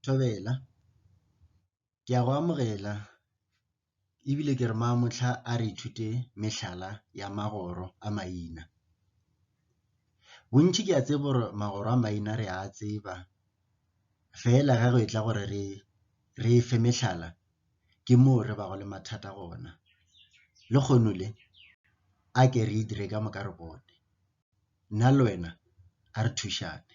Thobela, ke a go amogela e bile ke re Maamohla a re ithute mehlala ya magoro a maina. Bontši ke a tseba gore magoro a maina re a tseba fela ge go e tla gore re e fe mehlala ke moo re bago le mathata gona. Lekgono le a ke re e dire ka moka re bone. nna le wena a re thušane.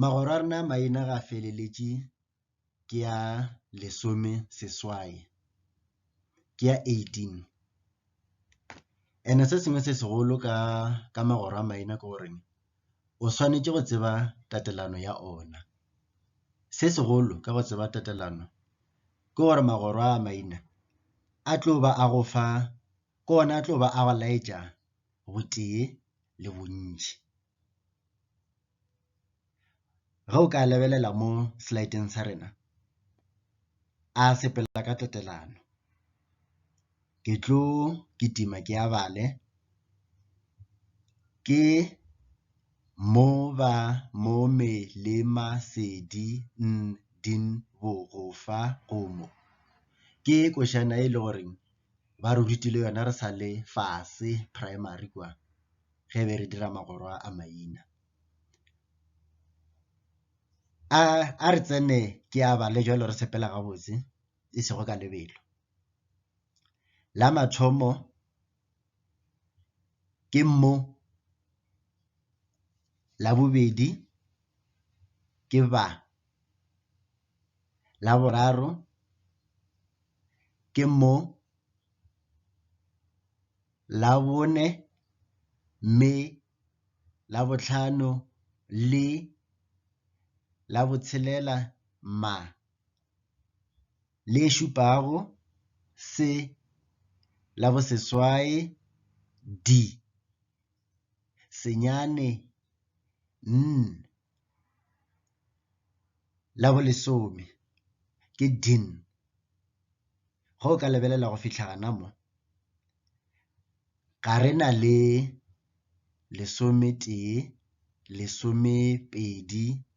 Magoro a rena a maina ga a feleletše ke a lesome seswai, ke a eighteen. And-e se sengwe se segolo ka magoro a maina ke gore o swanetše go tseba tatelano ya ona. Se segolo ka go tseba tatelano ke gore magoro a maina a tlo ba a go fa ke ona a tlo ba a go laetša botee le bontši. Ge o ka lebelela mo slide-eng sa rena a sepela ka tatelano. ke tlo kitima ke a bale ke mo ba mo me le ma se di din bo go fa go mo ke košana e le gore ba re rutile yona re sa le fase primary kwa ge be re dira magoro a maina a re tsene ke a bale jalo re sepela gabotse e sego ka lebelo. La mathomo ke mmu, la bobedi ke ba, la boraro ke mo, la bone mme, la botlhano le, la botshelela ma. le šupago se la bo seswai D. Senyane N. La bo lesome ke din. Go ka lebelela go fitlha gana mo, ga re na le lesometee, lesomepedi,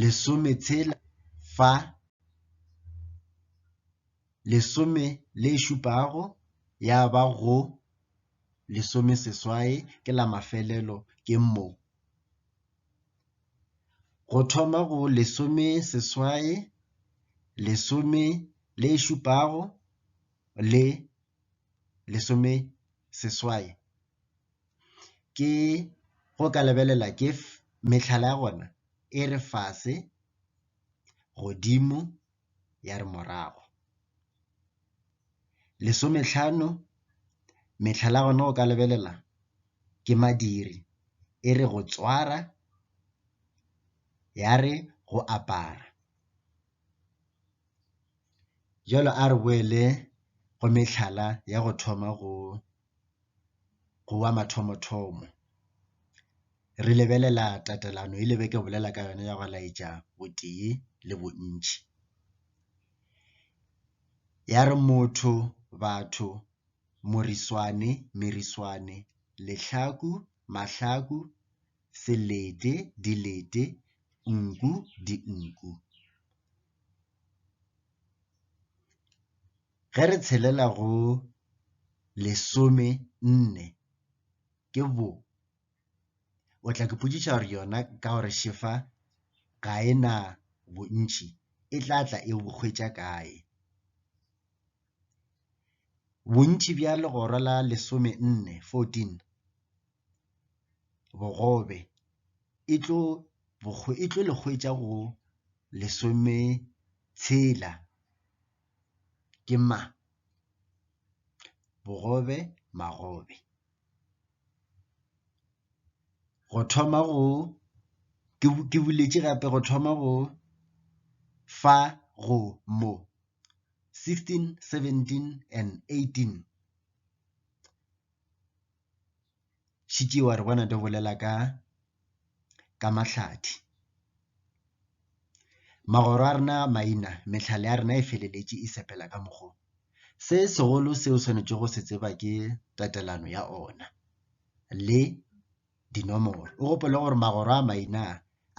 lesometshela fa lesome le šupago ya ba go lesomeseswai ke la mafelelo ke mo. Go thoma go lesomeseswai, lesome le šupago le lesomeseswai. ke go ka lebelela ke mehlala ya gona e re fase, godimo ya re morago. Lesometlhano mehlala ya gona go ka lebelela ke madiri e re go tswara ya re go apara. Jwale a re boele go mehlala ya go thoma go. go wa mathomo-thomo. Re lebelela tatelano e le be ke bolela ka yona ya go laetša botee le bontši. Ya re motho, batho, moriswane, meriswane, lehlaku, mahlaku, selete, dilete, nku, dinku. Ge re tshelela go lesome nne ke bo o tla ke potšiša gore yona ka gore šefa ga e na bontšhi e tla tla e bo hwetša kae. Bontšhi bja legora la lesome nne fourteen bogobe e tlo e tlo le hwetša go lesome tshela ke mang? Bogobe magobe. Go thoma go ke boletše gape go thoma go fa go mo 16, 17 and 18. šetše wa re bona di bolela ka ka mahlathi. Magoro a rena a maina, mehlala ya rena e feleletše e sepela ka mokgo. Se segolo se o swanetšego go se tseba ke tatelano ya ona le dinomoro. O gopole gore magoro a maina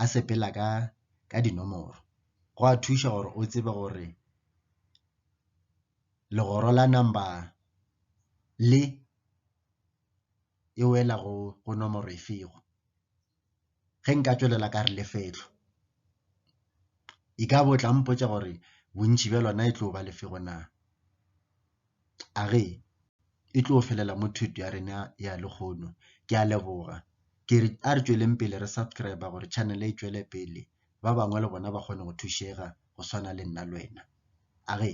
a sepela ka ka dinomoro. Go a thuša gore o tsebe gore legoro la number le e wela go go nomoro e fego ge nka tswelela ka re lefetlo e ka bo tla mpotsa gore bontši bja lona e tlo ba lefego na a re e tlo felela mo thuto ya rena ya lekgono ke a leboga ke re a re tsweleng pele re subscribe gore channel e tswele pele ba bangwe le bona ba kgone go thušega go swana le nna le wena a re